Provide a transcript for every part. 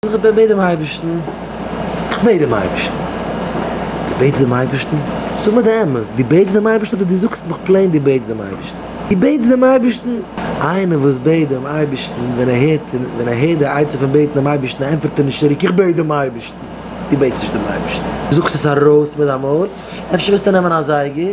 איך בעט דעם אייבערשטן, איך בעט דעם אייבערשטן. דו בעטסט דעם אייבערשטן? זאג מיר די אמת, דו בעטסט דעם אייבערשטן אדער דו זאגסט מיך פלעין דו בעטסט דעם אייבערשטן? דו בעטסט דעם אייבערשטן? איינער וואס בעט דעם אייבערשטן, ווען ער הערט, ווען ער הערט די עצה פון בעטן דעם אייבערשטן, ענטפערט ער נישט צוריק, איך בעט דעם אייבערשטן. דו בעטסט נישט דעם אייבערשטן. דו זאגסט עס ארויס מיט דיין מויל. אפשר וועסטו נעמען א זייגער?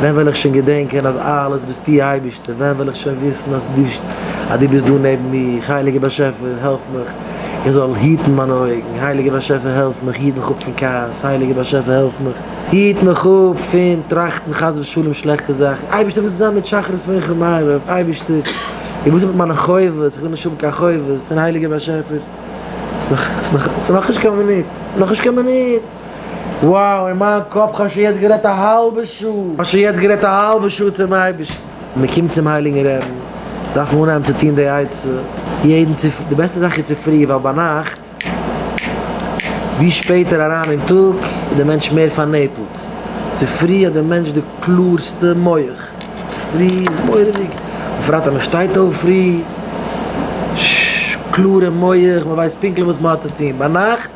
ווען וועל איך שוין געדענקען אז אלעס ביסטו אייבערשטער, ווען וועל איך שוין וויסן אז דו ביסט דא נעבן מיר, הייליגער באשעפער העלף מיך איך זאל היטן מיינע אויגן, הייליגער באשעפער העלף מיך היט מיך אפ פון כעס, הייליגער באשעפער העלף מיך היט מיך אפ פון טראכטן חס ושלום שלעכטע זאכן, אייבערשטער וואס איז זיין מיט שחרית מנחה און מעריב, אייבערשטער וואס איז מיט מיינע חובות, איך וויל נישט האבן קיין חובות, און הייליגער באשעפער, ס'איז נאך נישט קיין מינוט, נאך נישט קיין מינוט. וואו אין מיין קאפ כ'האב שוין יעצט גערעדט א האלבע שעה, כ'האב שוין יעצט גערעדט א האלבע שעה צום אייבערשטן, מען קומט צום הייליגן רעבן, דארף מען אנהייבן צו טון די עצה יעדן צו, די בעסטע זאך איז צופרי ווייל ביינאכט ווי שפעטער אריין אין טאג איז די מענטש מער פארנעפלט, צופרי האט די מענטש די קלארסטע מח, צופרי איז מורא'דיג, בפרט אז מען שטייט אויף פרי, ששש, קלארע מח, מען ווייסט פונקטליך וואס מען האט צו טון, ביינאכט.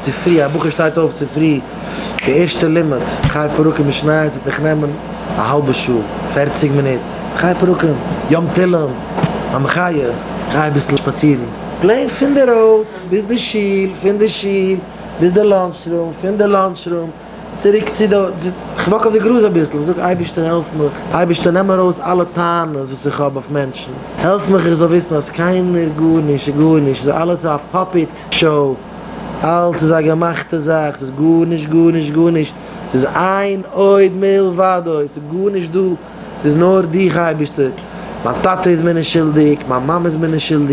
צופרי, א בחור שטייט אויף צופרי, די ערשטע לימוד, חי פרקים משניות וועט מיך נעמען א האלבע שעה, פערציג מינוט, חי פרקים, יום תהילים, המחיה, גיי אביסל שפאצירן, פלעין פון די ראוד ביז די שול, פון די שול ביז די לאנטש רום, פון די לאנטש רום צוריק צו די, כ'וואק אויף די גראז אביסל, זאג, אייבערשטער העלף מיך, אייבערשטער נעם ארויס אלע טענות וואס איך האב אויף מענטשן, העלף מיך איך זאל וויסן אז קיינער, גארנישט איז גארנישט, ס'איז אלעס א פאפיט שאו. אלץ איז א געמאכטע זאך, ס'איז גארנישט גארנישט גארנישט, ס'איז איין עוד מלבדו, ס'איז גארנישט דא, ס'איז נאר דיך אייבערשטער, מיין טאטע איז מיר נישט שולדיג, מיין מאמע איז מיר נישט שולדיג.